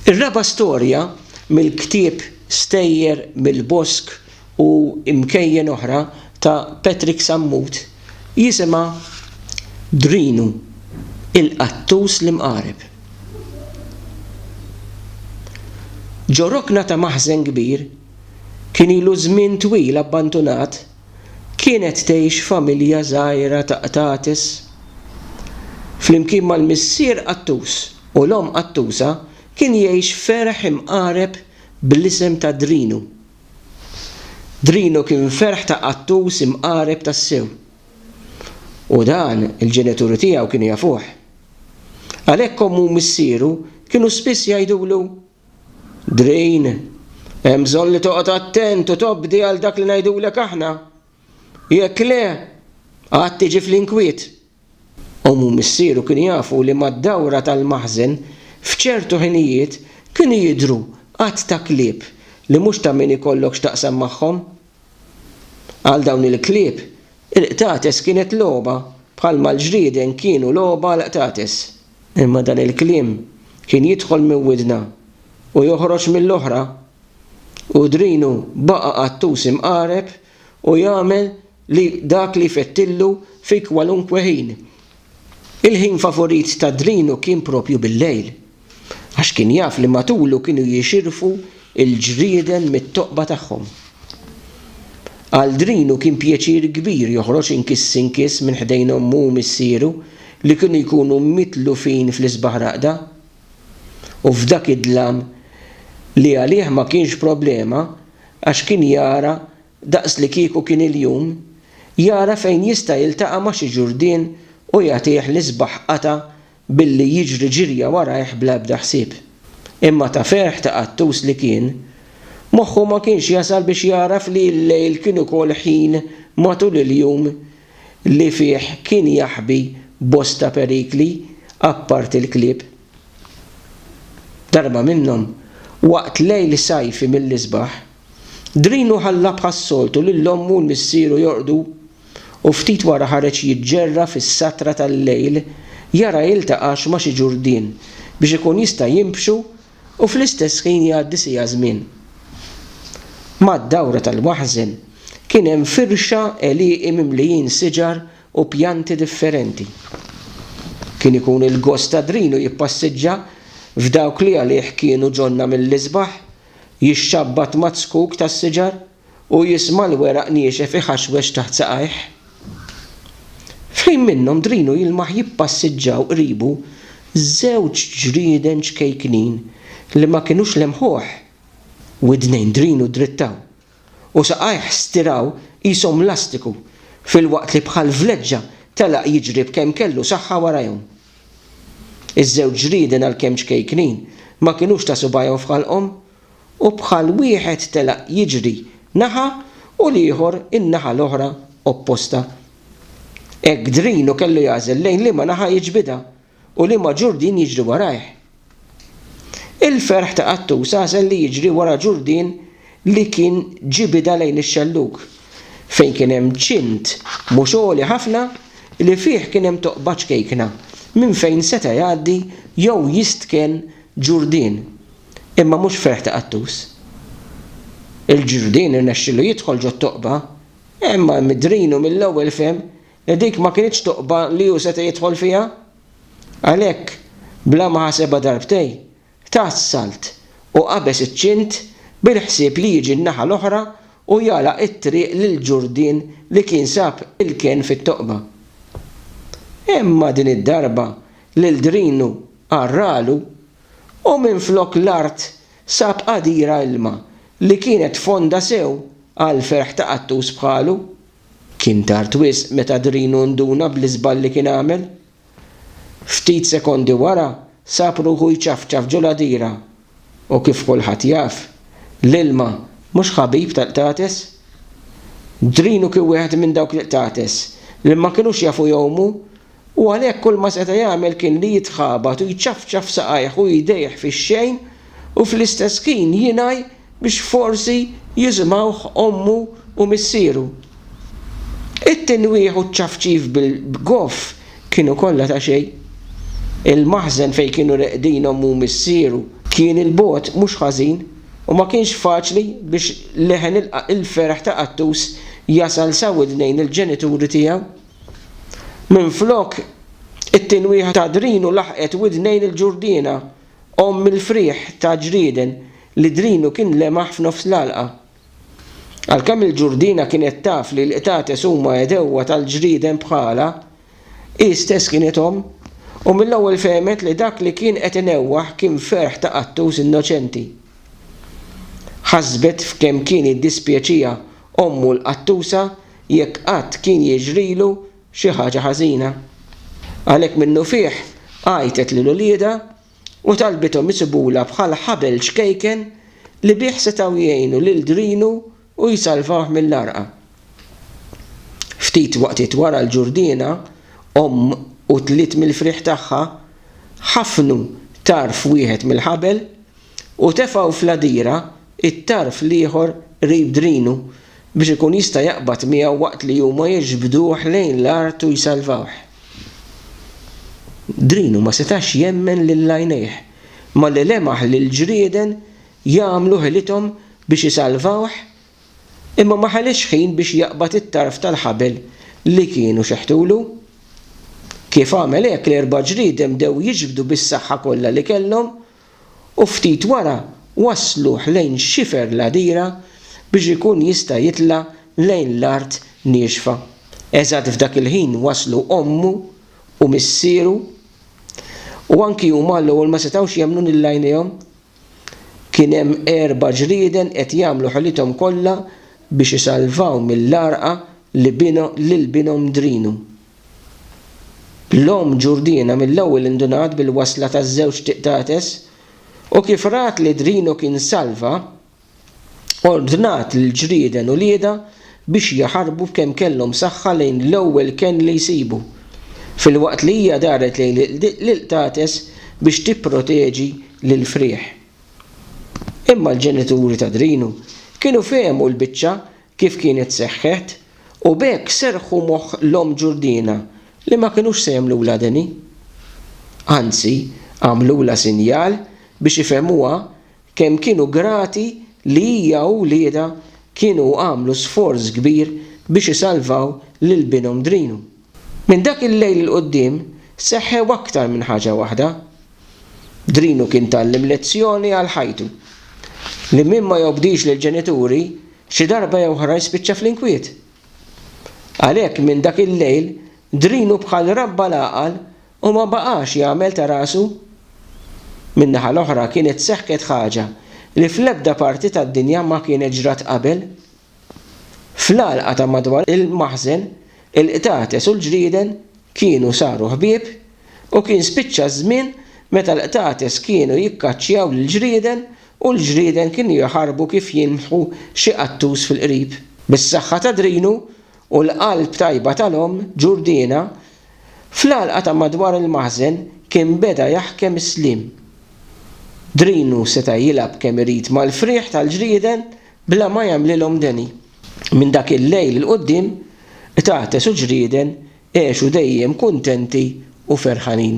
Ir-raba' storja mill-ktieb Stejjer mill-Bosk u Imkejjen Oħra ta' Patrick Sammut jisimha Drinu, il-qattus l-imqareb. Ġo rokna ta' maħżen kbir, kien ilu żmien twil abbandunat, kienet tgħix f'familja żgħira ta' qtates. Flimkien mal-missier qattus u l-omm qattusa kien jgħix ferħ imqareb bl-isem ta' Drinu. Drinu kien ferħ ta' qattus imqareb tassew. U dan il-ġenituri tiegħu kienu jafuh. Għalhekk ommu u missieru kienu spiss jgħidulu Green, Hemm bżonn li toqgħod attent u tobdi għal dak li ngħidulek aħna. Jekk le, għad tiġi fl-inkwiet. Omm u missieru kienu jafu li mad-dawra tal-maħżen f'ċertu ħinijiet kienu jidhru għadd ta' klieb li mhux ta' min ikollok x'taqsam magħhom. Għal dawn il-klieb, il-qtates kienet logħba bħalma l-ġrieden kienu logħba għall-qtates. Imma dan il-kliem kien jidħol minn widna u joħroġ mill-oħra, u drinu baqa' qattus imqareb u jagħmel li dak li jfettillu fi kwalunkwe ħin. Il-ħin favurit ta' drinu kien proprju bil-lejl, għax kien jaf li matulu kienu jixirfu l-ġrieden mit-toqba tagħhom. Għal drinu kien pjaċir kbir joħroġ inkiss inkiss minn ħdejn ommu u missieru, li kienu jkunu mitlufin fl-isbaħ raqda, u f'dak id-dlam li għalih ma kienx problema għax kien jara daqslikieku kien il-jum, jara fejn jista' jiltaqa' ma' xi ġurdien u jagħtih l-isbaħ qatgħa billi jiġri ġirja warajh bla ebda ħsieb. Imma ta' ferħ ta' qattus li kien, moħħu ma kienx jasal biex jagħraf li l-lejl kien ukoll ħin matul il-jum li fih kien jaħbi bosta perikli apparti l-klieb. Darba minnhom, waqt lejl sajfi mill-isbaħ, Drinu ħalla bħas-soltu lil ommu u l-missieru jorqdu u ftit wara ħareġ jiġġerra fis-satra tal-lejl jara jiltaqax ma' xi ġurdien biex ikun jista' jimbxu u fl-istess ħin jgħaddi siegħa żmien. Mad-dawra tal-waħżen kien hemm firxa għelieqi mimlijin siġar u pjanti differenti. Kien ikun il-gost Adrinu jippassiġġa f'dawk li għalih kienu ġonna mill-isbaħ, jixxabbat mazzkuk tas-siġar, u jisma' l-weraq niexef iħaxwex taħt saqajh. F'ħin minnhom drinu jilmaħ jippassiġġaw qribu żewġ ġrieden ċkejknin li ma kinux lemħuh. Widnejn drinu ddrittaw u saqajh stiraw qishom lastiku filwaqt li bħal vleġġa telaq jiġri b'kemm kellu saħħa warajhom. Iż-żewġ ġrieden għalkemm ċkejknin ma kinux ta' subgħajhom f'ħalqhom u bħal wieħed telaq jiġri naħa u l-ieħor in-naħa l-oħra opposta. Hekk Drinu kellu jagħżel lejn liema naħa jiġbidha u liema ġurdien jiġri warajh. Il-ferħ ta' Qattus għażel li jiġri wara ġurdien li kien ġibidha lejn ix-xellug, fejn kien hemm ċint mhux għoli ħafna li fih kien hemm toqba ċkejkna minn fejn seta' jgħaddi jew jistken ġurdien. imma mhux ferħ ta' qattus. Il-Ġurdien irnexxielu jidħol ġot-toqba, imma Midrinu mill-ewwel fehem li dik ma kinitx toqba li hu seta' jidħol fiha. Għalhekk, bla ma ħasebha darbtej, ta s-salt u qabeż iċ-ċint bil-ħsieb li jiġi n-naħa l-oħra u jagħlaq it-triq lill-Ġurdien li kien sab il-kenn fit-toqba. Imma din id-darba l-Ldrinu għarralu u minflok l-art sab qadira ilma li kienet fonda sew għall-ferħ ta' qattus bħalu. Kien tard wisq meta Drinu nduna bl-iżball li kien għamel. Ftit sekondi wara sab ruħu jċafċaf ġol-għadira u kif kulħadd jaf, l-ilma mhux ħabib tal-qtates. Drinu kien wieħed minn dawk l-qtates li ma kinux jafu jgħumu U għalhekk kull ma seta' jagħmel kien li jitħabat u jċafċaf saqajh u jdejh fix-xejn u fl-istess ħin jingħi biex forsi jisimgħuh ommu u missieru. It-tinwieħ u ċ-ċafċif bil-bgoff kienu kollha ta' xejn. Il-maħżen fejn kienu reqdin ommu u missieru kien 'il bogħod mhux ħażin u ma kienx faċli biex leħen il-ferħ ta' Qattus jasal sa widnejn il-ġenituri tiegħu. Minflok, it-tinwieħa ta' Drinu laħqet widnejn il-ġurdiena, omm il-frieħ ta' ġrieden li Drinu kien lemaħ f'nofs l-għalqa. Għalkemm il-ġurdiena kienet taf li l-qtates huma għedewwa tal-ġrieden bħalha, hi stess kienet omm u mill-ewwel fehmet li dak li kien qed inewwaħ kien ferħ ta' qattus innoċenti. Ħasbet f'kemm kien jiddispjaċiha ommu l-qattusa jekk qatt kien jiġrilu xi ħaġa ħażina. Għalhekk minnufih għajtet lil uliedha u talbithom isibulha bħal ħabel ċkejken li bih setgħu jgħinu lil Drinu u jsalvawh mill-għarqa. Ftit waqtiet wara l-ġurdiena, omm u tliet mill-frieħ tagħha ħafnu tarf wieħed mill-ħabel u tefgħu fl-għadira t-tarf l-ieħor qrib drinu biex ikun jista' jaqbad miegħu waqt li huma jiġbduh lejn l-art u jsalvawh. Drinu ma setax jemmen lil għajnejh malli lemaħ lill-ġrieden jagħmlu ħilithom biex isalvawh imma ma ħaliex ħin biex jaqbad it-tarf tal-ħabel li kienu xeħtulu. Kif għamel hekk, l-erba' ġrieden bdew jiġbdu bis-saħħa kollha li kellhom u ftit wara wassluh lejn xifer l-għadira biex ikun jista' jitla' lejn l-art niexfa. Eżatt f'dak il-ħin waslu ommu u missieru, u anki huma għall-ewwel ma setgħux jemmnu lil għajnejhom. Kien hemm erba' ġrieden qed jagħmlu ħilithom kollha biex isalvaw mill-għarqa lil binhom Drinu. L-omm Ġurdina mill-ewwel indunat bil-wasla taż-żewġ tiqtates u kif rat li Drino kien salva, ordnat lil ġrieden uliedha biex jaħarbu b'kemm kellhom saħħa lejn l-ewwel kenn li jsibu, filwaqt li hija daret lejn l-iqtates biex tipproteġi lill-frieħ. Imma l-ġenituri ta' Drino kienu fehmu l-biċċa kif kienet seħħet, u b'hekk serrħu moħħ l-omm Ġurdina li ma kinux se jagħmlulha deni. Anzi, għamlulha sinjal biex ifehmuha kemm kienu grati li hija u wliedha kienu għamlu sforz kbir biex isalvaw lil binhom Drinu. Minn dak il-lejl 'il quddiem seħħew aktar minn ħaġa waħda. Drinu kien tgħallem lezzjoni għal ħajtu, li min ma jobdix lill-ġenituri xi darba jew oħra jispiċċa fl-inkwiet. Għalhekk minn dak il-lejl Drinu bħal rabba l-għaqal u ma baqax jagħmel ta' rasu. Min-naħa l-oħra kienet seħħet ħaġa li fl-ebda parti tad-dinja ma kienet ġrat qabel. Fl-għalqa ta' madwar il-maħżen, il-qtates u l-ġrieden kienu saru ħbieb u kien spiċċa ż-żmien meta l-qtates kienu jikkaċċjaw lill-ġrieden u l-ġrieden kienu jaħarbu kif jilmħu xi qattus fil-qrib. Bis-saħħa ta' Drinu u l-qalb tajba tal-omm, Ġurdina, fl-għalqa ta' madwar il-maħżen kien beda jaħkem is-sliem. Drinu seta' jilgħab kemm irid mal-frieħ tal-ġrieden Bla ma jagħmlilhom deni. Minn dak il-lejl 'l quddiem, qtates u ġrieden għexu dejjem kuntenti u ferħanin.